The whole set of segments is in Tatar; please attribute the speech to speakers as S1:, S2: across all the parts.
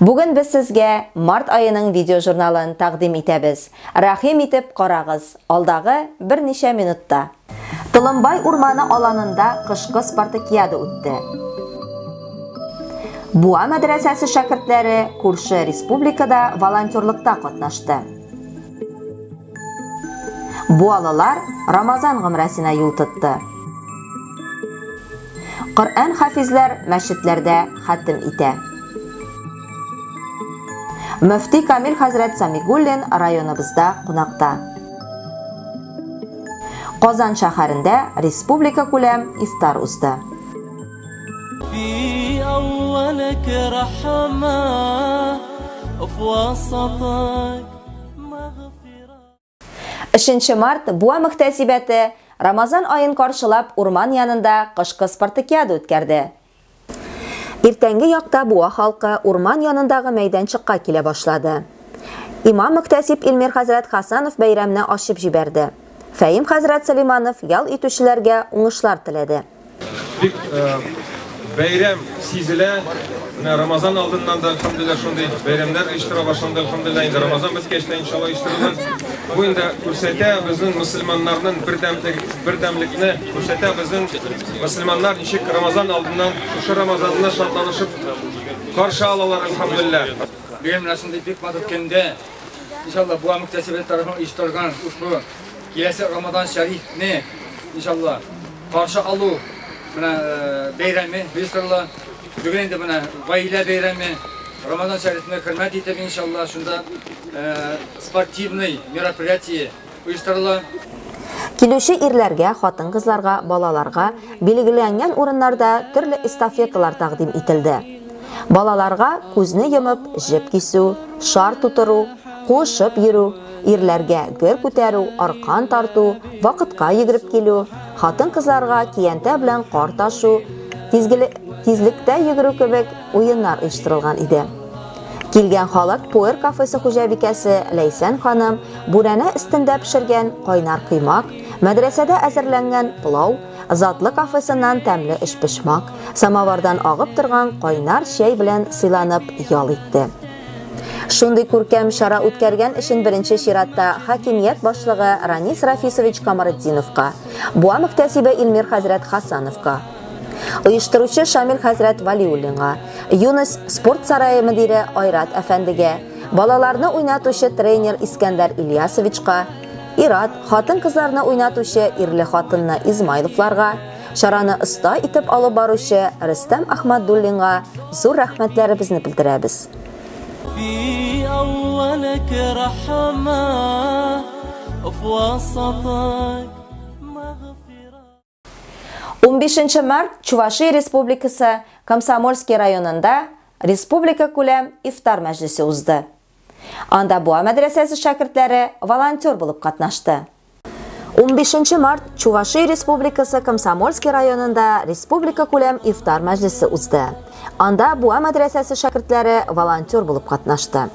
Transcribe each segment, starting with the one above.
S1: Бүген без сезгә март аеның видеожурналын тәкъдим итәбез. Рәхим итеп карагыз, алдагы берничә минутта. Толымбай урманы аланында кышкы спартакиада үтте. Буа мәдрәсәсе шәкертләре күрше республикада волонтерлыкта катнашты. Буалылар Рамазан гомрәсенә юл тотты. Коръән хафизләр мәчетләрдә хатим итә. Мөфти Камил хәзрәт Самигуллин районыбызда кунакта. Казан шәһәрендә республика күләм ифтар узды. Өченче март Буа мөхтәсибәте Рамазан аен каршылап урман янында кышкы спартакиада үткәрде. Иртәнге якта Буа халкы урман янындагы мәйданчыкка килә башлады. Имам мөхтәсиб Илмир хәзрәт Хасанов бәйрәмне ачып җибәрде. Фәим хәзрәт Сөлейманов ял итүчеләргә уңышлар теләде. Бик
S2: бәйрәм сизелә. Менә Рамазан алдыннан да, әлхәмдүлилләһ, шундый бәйрәмнәр оештыра башланды, әлхәмдүлилләһ. Инде Рамазан беткәч тә, иншалла, оештырырга. Бу инде күрсәтә безнең мөселманнарның бердәмлек, бердәмлекне күрсәтә безнең мөселманнар ничек Рамазан алдыннан, шушы Рамазанны шатланышып каршы алалар, әлхәмдүлилләһ. Бүген менә шундый
S3: бик матур көндә, иншалла, Буа мөхтәсибәте тарафыннан оештырылган ушу киләсе Рамазан шәрифне, иншалла, Каршы алу менә бәйрәме оештырыла. Бүген инде менә гаилә бәйрәме, Рамазан шәрифне хөрмәт итеп, иншалла, шунда спортивный мероприятие оештырыла.
S1: Килүче ирләргә, хатын-кызларга, балаларга билгеләнгән урыннарда төрле эстафеталар тәкъдим ителде. Балаларга күзне йомып җеп кисү, шар тутыру, куышып йөрү, Ирләргә гер күтәрү, аркан тарту, вакытка йөгереп килү, хатын-кызларга киянтә белән кар ташу, тизлектә йөгерү кебек уеннар оештырылган иде. Килгән халык Пуэр кафесы хуҗабикәсе Ләйсән ханым бүрәнә өстендә пешергән кайнар коймак, мәдрәсәдә әзерләнгән пылау, Затлы кафесыннан тәмле өчпочмак, самовардан агып торган кайнар чәй белән сыйланып ял итте. Шундый күркәм чара үткәргән өчен беренче чиратта хакимият башлыгы Ранис Рафисович Камаретдиновка, Буа мөхтәсибе Илмир хәзрәт Хасановка, оештыручы Шамил хәзрәт Валиуллинга, Юныс спорт сарае мөдире Айрат әфәндегә, балаларны уйнатучы тренер Искәндәр Ильясовичка, ир-ат, хатын-кызларны уйнатучы ирле хатынны Измайловларга, Чараны оста итеп алып баручы Рөстәм Ахмадуллинга зур рәхмәтләребезне белдерәбез.
S4: Унбишенче
S1: март Чувашия Республикасы Комсомольский районында республикакүләм ифтар мәҗлесе узды. Анда Буа мәдрәсәсе шәкертләре волонтер булып катнашты. Унбишенче март Чувашия Республикасы Комсомольский районында республикакүләм ифтар мәҗлесе узды. Анда Буа мәдрәсәсе шәкертләре волонтер булып катнашты.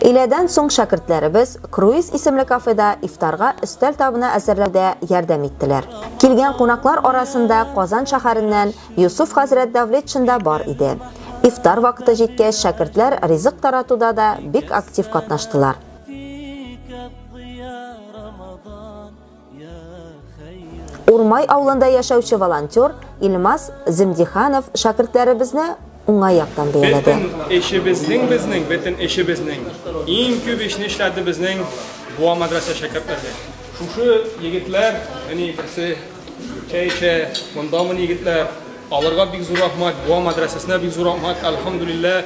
S1: Иләдән соң шәкертләребез Круиз исемле кафеда ифтарга өстәл табыны әзерләүдә ярдәм иттеләр. Килгән кунаклар арасында Казан шәһәреннән Юсуф хәзрәт Давлетшин да бар иде. Ифтар вакыты җиткәч, шәкертләр ризык таратуда да бик актив катнаштылар. Урмай авылында яшәүче волонтер Илмас Земдиханов шәкертләребезне уңай яктан бәяләде. Бөтен эшебезнең безнең,
S2: бөтен эшебезнең иң күп эшне эшләде безнең Буа мәдрәсә шәкертләре. Шушы егетләр, әни берсе чәй эчә, монда мын егетләр, аларга бик зур рәхмәт, Буа мәдрәсәсенә бик зур рәхмәт, альхамдулиллаһ.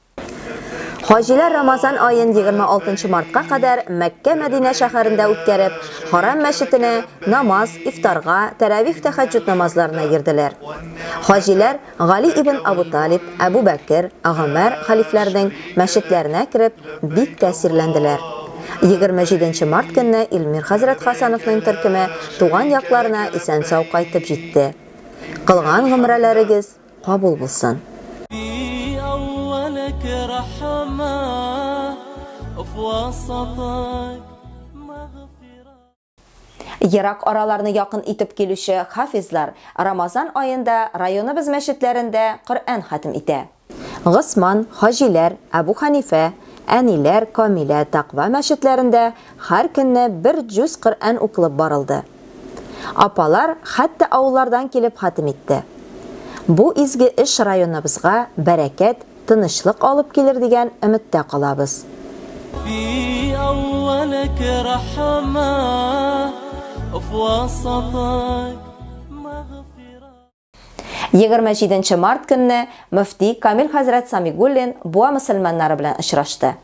S1: Хаҗилар Рамазан аен 26 мартка кадәр Мәккә-Мәдинә шәһәрендә үткәреп, Харам мәчетенә намаз, ифтарга, тәравих тәхәҗҗүд намазларына йөрделәр. Хаҗилар Гали ибн Абу Талиб, Әбу Бәкер, Гомәр хәлифләрнең мәчетләренә кереп, бик тәэсирләнделәр. 27 март көнне Илмир хәзрәт Хасановның төркеме туган якларына исән-сау кайтып җитте. Кылган гомрәләрегез, кабул булсын. Ерак араларны якын итеп килүче хафизлар Рамазан аенда районыбыз мәчетләрендә Коръән хатм итә. Госман, Хаҗиләр, Әбу Хәнифә, Әниләр, Камилә, Тәкъва мәчетләрендә һәр көнне бер җүз Коръән укылып барылды. Апалар хәтта авыллардан килеп хатим итте. Бу изге эш районыбызга бәрәкәт, тынычлык алып килер дигән өметтә калабыз.
S4: Егерме җиденче
S1: март көнне мөфти Камил хәзрәт Самигуллин Буа мөселманнары белән очрашты.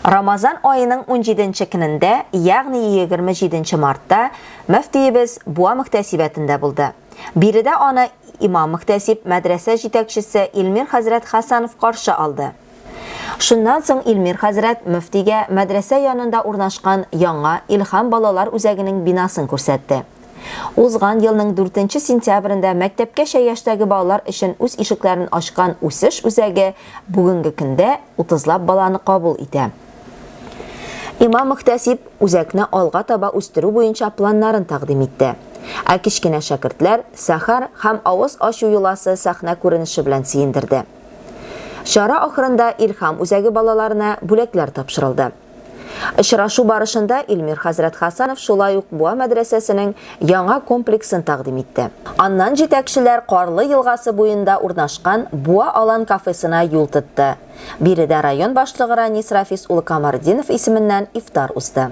S1: Рамазан аеның 17 көнендә, ягъни 27 мартта мөфтиебез Буа мөхтәсибәтендә булды. Биредә аны имам мөхтәсиб, мәдрәсә җитәкчесе Илмир хәзрәт Хасанов каршы алды. Шуннан соң Илмир хәзрәт мөфтигә мәдрәсә янында урнашкан яңа Илһам балалар үзәгенең бинасын күрсәтте. Узган елның дүртенче сентябрендә мәктәпкәчә яшьтәге балалар өчен үз ишекләрен ачкан Үсеш үзәге бүгенге көндә утызлап баланы кабул итә. Имам-мөхтәсиб үзәкне алга таба үстерү буенча планнарын тәкъдим итте. Ә кечкенә шәкертләр сәхәр һәм авыз ачу йоласы сәхнә күренеше белән сөендерде. Чара ахырында Илһам үзәге балаларына бүләкләр тапшырылды. Очрашу барышында Илмир хәзрәт Хәсәнов шулай ук Буа мәдрәсәсенең яңа комплексын тәкъдим итте. Аннан җитәкчеләр Карлы елгасы буенда урнашкан Буа Алан кафесына юл тотты. Биредә район башлыгы Ранис Рафис улы Камардинов исеменнән ифтар узды.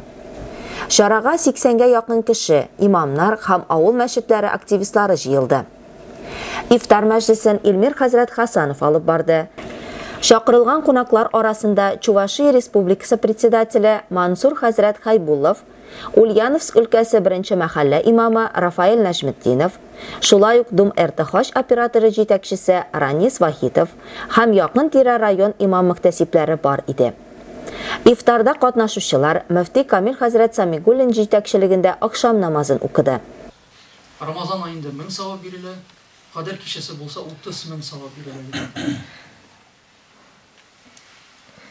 S1: Чарага 80 гә якын кеше, имамнар һәм авыл мәчетләре активистлары җыелды. Ифтар мәҗлесен Илмир хәзрәт Хәсәнов алып барды. Чакырылган кунаклар арасында Чувашия Республикасы председателе Мансур хәзрәт Хәйбуллов, Ульяновск өлкәсе беренче мәхәллә имамы Рафаэль Нәҗметдинов, шулай ук Дум-Эртыхач операторы җитәкчесе Ранис Вахитов һәм якын-тирә район имам-мөхтәсибләре бар иде. Ифтарда катнашучылар мөфти Камил хәзрәт Самигуллин җитәкчелегендә ахшам намазын укыды. Рамазан
S5: аенда мең савап бирелә, Кадер кичәсе булса, утыз мең савап бирелә дигән.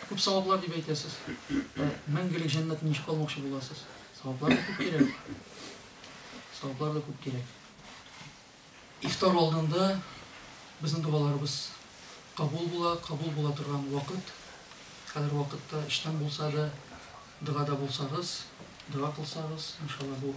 S5: Күп саваплар дип әйтәсез. Ә мәңгелек җәннәтне ничек алмакчы буласыз? Саваплар да күп кирәк. Саваплар да күп кирәк. Ифтар алдында безнең дугаларыбыз кабул була, кабул була торган вакыт. Хәзер вакытта эштән булса да, догада булсагыз, дога кылсагыз, иншалла бу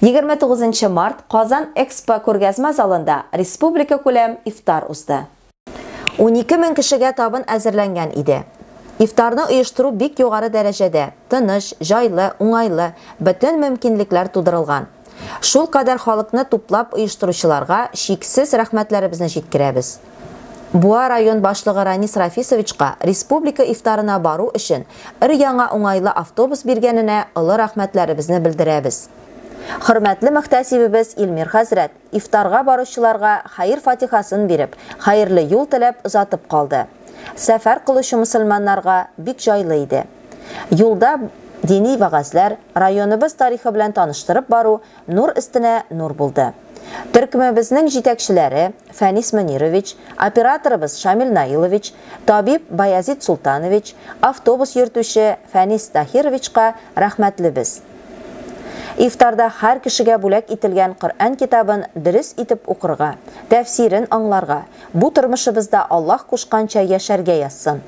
S4: 29
S1: нчы март Казан Экспо күргәзмә залында республикакүләм ифтар узды. Унике мең кешегә табын әзерләнгән иде. Ифтарны оештыру бик югары дәрәҗәдә, тыныч, җайлы, уңайлы, бөтен мөмкинлекләр тудырылган. Шулкадәр халыкны туплап оештыручыларга чиксез рәхмәтләребезне җиткерәбез. Буа район башлыгы Ранис Рафисовичка республика ифтарына бару өчен өр-яңа уңайлы автобус биргәненә олы рәхмәтләребезне белдерәбез. Хөрмәтле мөхтәсибебез Илмир хәзрәт, ифтарга баручыларга хәер-фатихасын биреп, хәерле юл теләп озатып калды. Сәфәр кылучы мөселманнарга бик җайлы иде. Юлда дини вәгазьләр, районыбыз тарихы белән таныштырып бару, Нур өстенә нур булды. Төркемебезнең җитәкчеләре Фәнис Мөнирович, операторыбыз Шамил Наилович, табиб Баязит Султанович, автобус йөртүче Фәнис Таһировичка рәхмәтлебез. Ифтарда һәр кешегә бүләк ителгән Коръән китабын дөрес итеп укырга, тәфсирен аңларга, бу тормышыбызда Аллаһ кушканча яшәргә язсын!